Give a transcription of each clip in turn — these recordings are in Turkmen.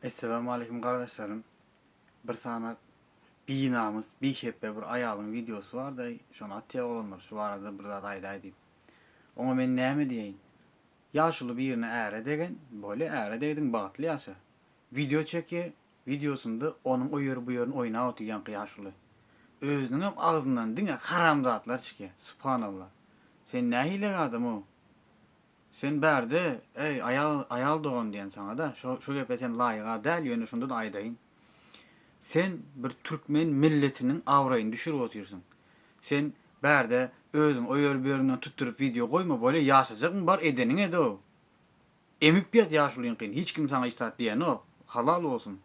Essalamu aleýkum gardaşlarym. Bir sany binamys, bihepbe bir aýalyň wideosy barda, şony atýar oglanlar, şu barada bir zat aýdaý diýip. Oňa men näme diýeýin? Ýaşuly birine äre degen, bolýa äre degdiň bagtly ýaşa. Wideo çekýär, wideosynda onuň o ýeri bu ýerini oýnap otyrýaňky ýaşuly. Özüniňem agzyndan diňe haramzatlar çykýar. Subhanallah. Sen nähili adam-ow? Sen bärde, eý, aýal, aýal dogan diýen saňa-da, şo, şo gepe sen laýyga däl, ýöne şonda-da aýdaýyn. Sen bir türkmen milletiniň abraýyny düşürip otyrsyň. Sen bärde özüň o ýeri bu ýerinden tutduryp wideo goýma, bolýa ýaşajakmy bar edeniň ed-ow. Emip ýat ýaşulyňkyny, hiç kim saňa hiç zat diýenok, halal bolsun.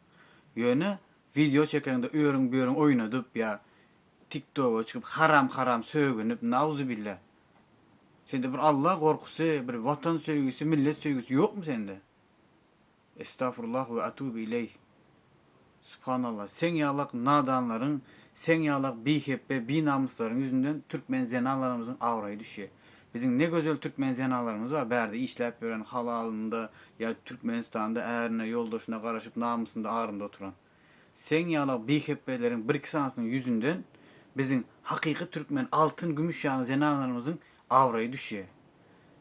Ýöne wideo çekeňde o ýeriň bu ýeriň oýnadyp ýa Tik-toga çykyp haram-haram sögünip, nauzubillah. Sende bir Alla gorkusy, bir watan söýgüsi, millet söýgüsi ýokmy sende? Estafurullah we atubu ileyh. Subhanallah, seň ýalak nadanlaryň, seň ýalak bihepbe, binamyslaryň ýüzünden türkmen zenanlarymyzyň abraýy düşýär. Biziň ne gözel türkmen zenanlarymyz bar, bärde işläp ýören, halalynda ýa Türkmenistanda ärine, ýoldaşyna garaşyp namysynda, arynda oturan. Seň ýala bihepbeleriň birki sanysynyň ýüzünden biziň hakyky türkmen altyn gümüş ýaly zenanlarymyzyň abraýy düşýär.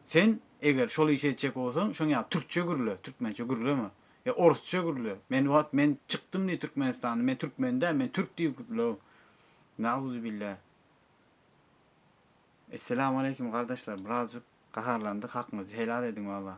Sen eger şol işi etjek bolsaň şoň ýaly türkçe gürle, türkmençe gürleme. Ýa orusça gürle. Men wagt men çykdym diý türkmenistandan men türkmen däl men türk diýip gürle. Nauzubillâh. Esselamu aleýkum gardaşlar birazjyk gaharlandyk hakyňyzy helal ediň walla.